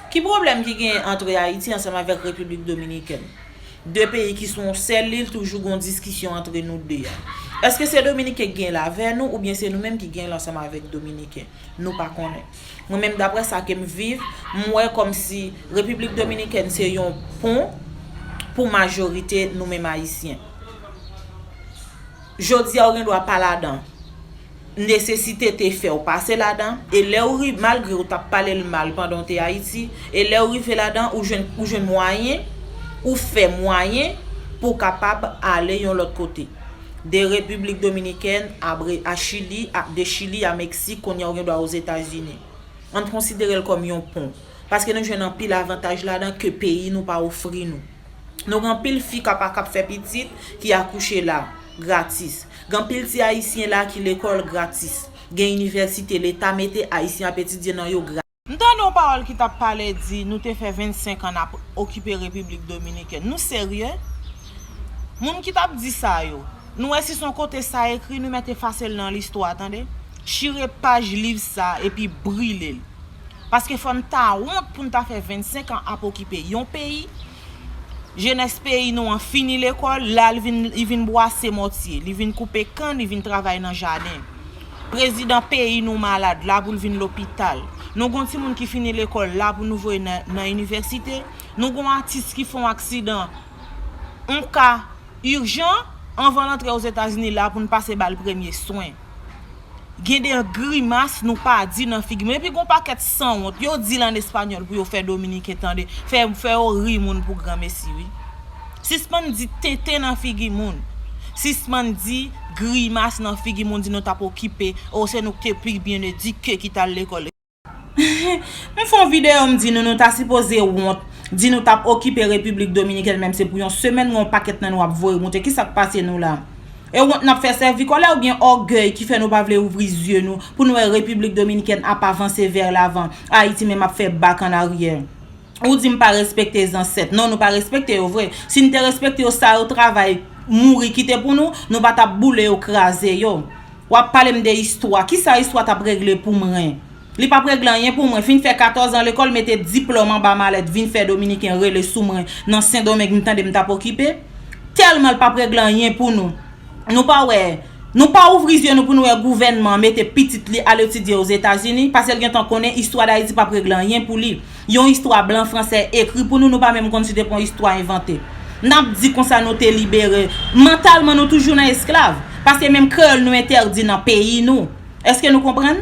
Ki pwoblèm ki genyen antre Ayiti ansanm avèk Repiblik Dominikèn? De peyi ki sou yon sèl il toujou gon diskisyon antre nou de a. Eske se Dominiken ki gen il avè nou oubyen se nou menm ki gen il ansanm avèk Dominiken? Nou pa konnen. Mwen menm daprè sa ke m viv, m wè kòmsi Repiblik Dominikèn se yon pon pou majorite nou menm Ayisyen. Jodi a ou gen dwa pa ladan. Nesesite te fè w pase ladan, e lè w ri, malgre w t ap pale l mal pandan w te Ayiti, e lè w rive ladan, ou jwenn, ou jwenn mwayen, ou fè mwayen pou w kapab ale yon lòt kote. De Repiblik Dominikèn a Bre, a Chili, a, de Chili a Meksik, kounye a ou gen dwa Ozetazini. An n konsidere l kòm yon pon. Paske nou jwenn anpil avantaj ladan ke peyi nou pa ofri nou. Nou gen anpil fi ka pa kab fè pitit, ki akouche la, gratis. Gen anpil ti Ayisyen la ki lekòl gratis. Gen inivèsite Leta mete Ayisyen ap etidye nan yo gratis. M tande yon pawòl ki t ap pale di nou te fè 25 an n ap okipe Repiblik Dominikèn. Nou serye? Moun ki t ap di sa yo, nou wè si s on kote sa ekri nou mèt efase l nan listwa tande. Chire paj liv sa epi brile l. Paske fò n ta wont pou n ta fè 25 an ap okipe yon peyi, jenès peyi nou an fini lekòl, la li vin bwase mòtye, li vin koupe kann, li vin travay nan jaden. Prezidan peyi nou malad, la pou l vin lopital. Nou gon timoun ki fini lekòl, la pou nou voye nan inivèsite. Nou gon atis ki fon aksidan, on ka ijan, anvan l antre Ozetazini, la pou n pase ba l premye swen. Gen de grimas nou pa di nan figi moun. Epi gon pakèt sanwont. Yo dil an espanyòl pou yo fè dominiken tande. Fè yo ri moun pou granmesi wi. Sispann di tenten nan figi moun. Sispann di grimas nan figi moun di nou tap okipe. O se nou k te pi byen edike ki tal lekòl. M fon video m di nou nou ta sipoze wont di nou tap okipe repiblik dominiken menm se pou yon semèn gen yon pakèt nan nou ap voye moute kisak pase nou la e wont nap fè sèvi kòlè ou byen ògèy ki fè nou pa vle ouvri zye nou pou nou wè repiblik dominiken ap avanse vè lavan ayiti menm ap fè bak an aryè. Ou di m pa respekte zansèt. Non nou pa respekte yo vre. Si n te respekte yo sa yo travay mouri kite pou nou, nou pa t ap boule yo kraze yo. W ap pale m de istwa. Ki sa istwa t ap regle pou mwen? Li pa p regle anyen pou mwen. Fin fè 14 an lekòl mete diplòm anba malèt vin fè dominiken rele sou mwen nan sendomeng m tande m t ap okipe. Tèlman l pa p regle anyen pou nou. Nou pa wè Nou pa ouvri zye nou pou nou wè gouvènman an mete pitit li al etidye ozetazini pase l gen tan konnen istwa dayiti p ap regle anyen pou li. Yon istwa blan franse ekri pou nou nou pa menm konn si te pa yon istwa envante. N ap di konsa nou te libere. Mantalman nou toujou nan esklav. Paske menm kreyòl nou entèdi nan peyi nou. Èske nou konprann?